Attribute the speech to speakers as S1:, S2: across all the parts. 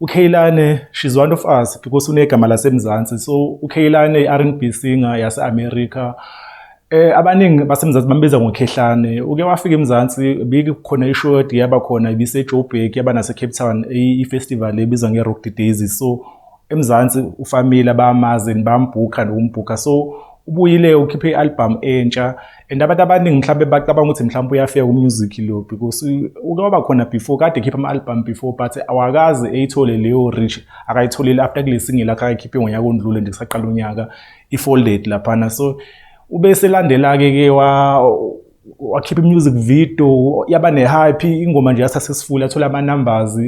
S1: UKheilane, she's one of us because unegama laseMzansi. So uKheilane i-R&B singer yase-America. Eh abaningi baseMzansi bambiza ngoKhehlane. Uke wafika eMzansi bekukhona i-show yaba khona ibiseJoburg yaba naseCape Town i-festival ebizwa ngeRock the Daisy. So eMzansi ufamile abamazi bambhuka nokumbhuka. So ubuyile ukhiphe i-album entsha and abantu abaningi mhlawumbe bacabanga ukuthi mhlawumbe uyafika ku-music lo because uke waba khona before kade ekhipha ama-album before but awakaze eyithole leyo rich akayitholile after kule singile akhe akayikhiphe ngonyaka ondlule nje kusaqala unyaka i-folded laphana so ube selandela-ke ke wakhipha i-music video yaba ne-hype ingoma nje yasuccessful yathola ama-numbers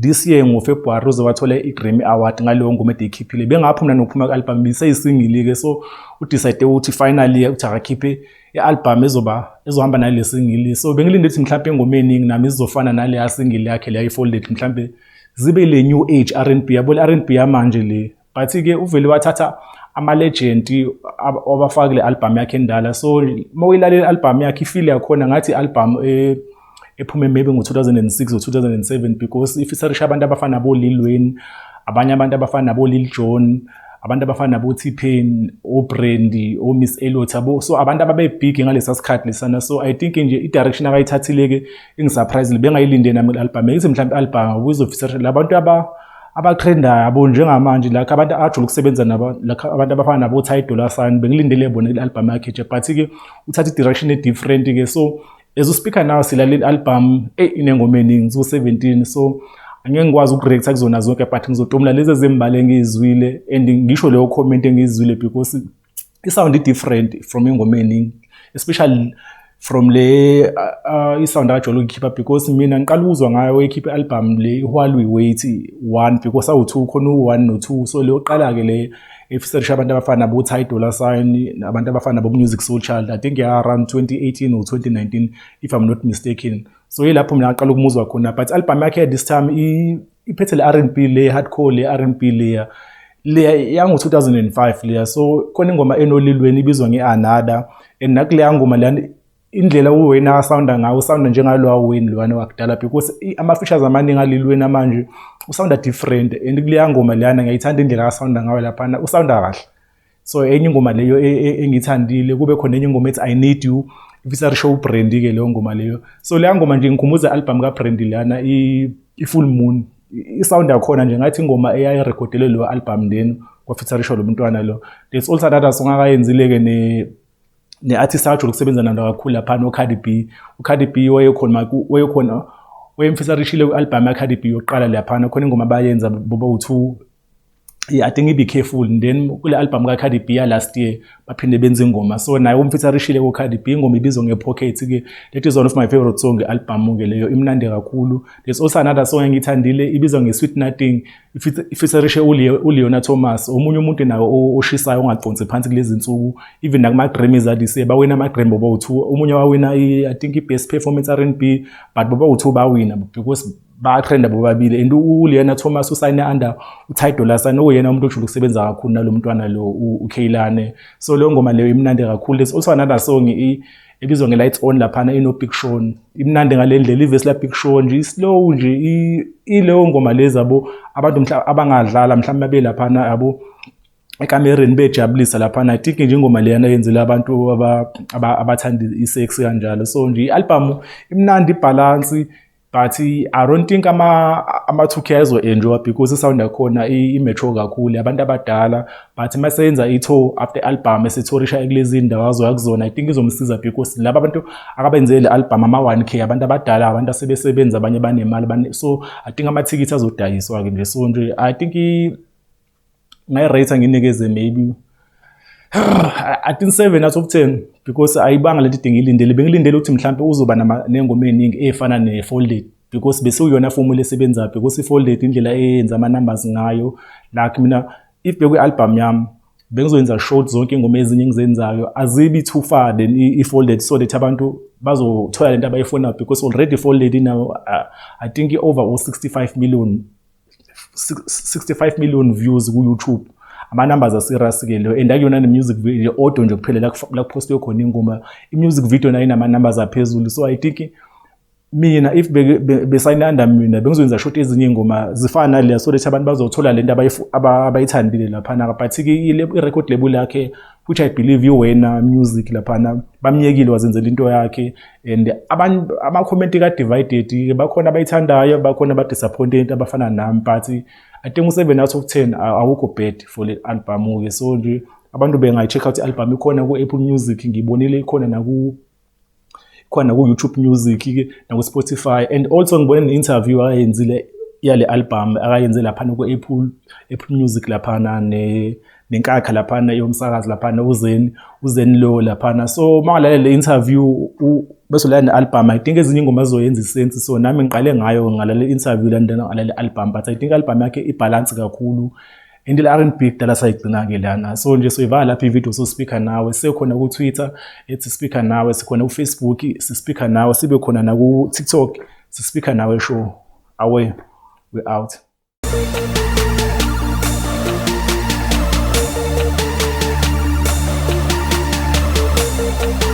S1: this year ngofebruary uze wathole i-grammy award ngaleyo ngoma edeyikhiphile bengapho mna nokuphuma kwi-albhamu ibiseyisingili-ke so udicide ukuthi finally ukuthi akakhiphe i-albhamu ezoba ezohamba nale singili so bengilinde ukuthi mhlawumpe engoma eningi nami zizofana naleya singili yakhe leya i-folded mhlawumpe zibe le new age r n b yabo le r n b yamanje le but ke uvele wathatha ama-legend wabafaka kule albhamu yakhe endala so uma uyilalela i-albhamu yakhe ifile yakhona ngathi i-albhamu eh, ephume maybe ngo-2006 or 2007 because ifisarisha abantu abafana nabo-lil wayne abanye abantu abafana nabo-lil john abantu abafana nabo-t-pain obrandy omiss elot yabo so abantu ababebhigi ngalesa sikhathi lesana so i think nje i-direction akayithathile-ke ingisurprisile bengayilinde nami i-albhamu engithi mhlawumbe i-albhamu kuzofisarisha labantu aba abathrendayo abo njengamanje lakho abantu abajula ukusebenza nabo lakho abantu abafana nabo Ty Dolla Sign bengilindele bona kule album yakhe nje but ke uthatha i-direction e-different ke so as uspeaker now silaleli album eh inengoma eningi so 17 so angeke ngikwazi ukureacta kuzona zonke but ngizotomla lezi ezimbali engizwile and ngisho leyo comment engizwile because i-sound i-different from engomeni especially from le uh, i-sound akajwayele ukuyikhipha because mina ngiqala ukuzwa ngayo ekhipha i-album le i-while we wait one because awu-two khona u-one no-two so le yokuqala-ke le efiserisha abantu abafana nabo-ty dollar sign abantu abafana nabo-music soul child i think ya-around 2018 or 2019 if i'm not mistaken so yilapho mina ngaqala ukumuzwa khona but i-album yakhe this time iphethe le rnb le hardcore le rnb leya leya yango-2005 leya so khona ingoma enolilweni ibizwa nge-anada and nakuleya ngoma leya indlela uwayne asawunda ngawo usawunda njengalowa wayne lowana wakudala because ama-features amaningi alilweni amanje usawunda different and kuleya ngoma leyana ngiyayithanda indlela asawunda ngayo laphana usawunda kahle so enye ingoma leyo e, e, engithandile kube khona enye ingoma ethi i need you ifisa risho ubrandi ke leyo ngoma leyo so leya ngoma nje ngikhumbuza i-albhamu kabrandi lana i-full moon isound yakhona nje ngathi ingoma eyayirekhodele leyo albhamu lenu kwafitharisho lo mntwana lo there's also another song akayenzile-ke ne-artist ajule ukusebenza nalo kakhulu lapha nocardi b ucardi b wayekhona wayekhona wayemfisarishile kwi-albhamu yacardi b yokuqala laphana khona ingoma bayenza boba u-two yeah, I think ibe careful and then kule album ka Cardi B last year baphinde benze ingoma so naye umfitha rishile ku Cardi B ingoma ibizwa nge Pocket ke that is one of my favorite song e album ke leyo imnandi kakhulu there's also another song engithandile ibizwa nge Sweet Nothing ifitha rishe u Leona Thomas omunye umuntu nawo oshisayo ongaconsi phansi kulezi insuku even nakuma Grammys adise bawina ama Grammy boba u2 omunye wawina i I think i best performance R&B but boba u2 bawina because bayatrenda bobabili and uliyena thomas usayine under utidolasan okuyena umuntu ojule ukusebenza kakhulu nalo mntwana lo ukhaylane so leyo ngoma leyo imnandi kakhulu there's also another song ebizwa nge-lights on laphana ino-big shon imnandi ngale ndlela ivesi la-big shon nje islow nje ileyo ngoma lezi abo abantu abangadlala mhlawumbe babe laphana yabo ekamereni bejabulisa laphana i think nje ingoma leyana yenzela abantu abathanda i-sex kanjalo so nje i-albhamu imnandi ibhalansi but i don't think ama-2k azo-enjoya because isound yakhona i-metro kakhulu abantu abadala but uma seyenza i-tour after album esithorisha ekulezi ndawo azoya kuzona i think izomsiza because laba abantu akabenzele le album ama-one k abantu abadala abantu asebesebenza abanye banemali so i think amathikithi azodayiswa-ke nje so nje i think ngayirate nginikeze maybe I think 7 out of 10 because ayibanga lento idinga ilindele bengilindele ukuthi mhlawumbe uzoba nengoma eningi efana ne folded because bese uyona formula esebenza because i folded indlela eyenza ama numbers ngayo like mina if bekwi album yami bengizoyenza short zonke ingoma ezinye engizenzayo azibi too far then i folded so that abantu bazothola lento abayifuna because already folded now uh, i think i over 65 million 65 million views ku YouTube ama numbers are serious ke leyo and akuyona ne music video audio nje kuphela la la post yokhona ingoma i music video nayo inama numbers aphezulu so i think mina if besayinanda mina bengizoyenza short ezinye ingoma zifana naleya so that abantu bazothola lento abayithandile lapha na but ke i record label yakhe which i believe iwena music laphana bamyekile wazenzela into yakhe and abantu amakhomenti ka-divided bakhona abayithandayo bakhona abadisappointed abafana nami but i think u-seven out of ten awukho bad for le album-ke so nje abantu bengayi-check out i-album ikhona ku-apple music ngiyibonile ikhona naku khona ku-youtube music-ke naku-spotify and also ngibone ne-interview akayenzile yale album akayenze laphana ku-apple apple music laphana ne nenkakha laphana yomsakazi laphana uzeni uzeni lo laphana so uma ngalalela le interview bese ulala ne-album i think ezinye ingoma zizoyenza isensi so nami ngiqale ngayo ngalalela i-interview lana ngalalela i-album but i think i-album yakhe ibhalansi kakhulu into le R&B kudala sayigcina-ke lana so nje soyivala lapho ividiyo sospikha nawe sekhona ku-twitter ethi spikha nawe sikhona kufacebook sispikha nawe sibe khona naku-tiktok sispikha nawe show away we out Thank you.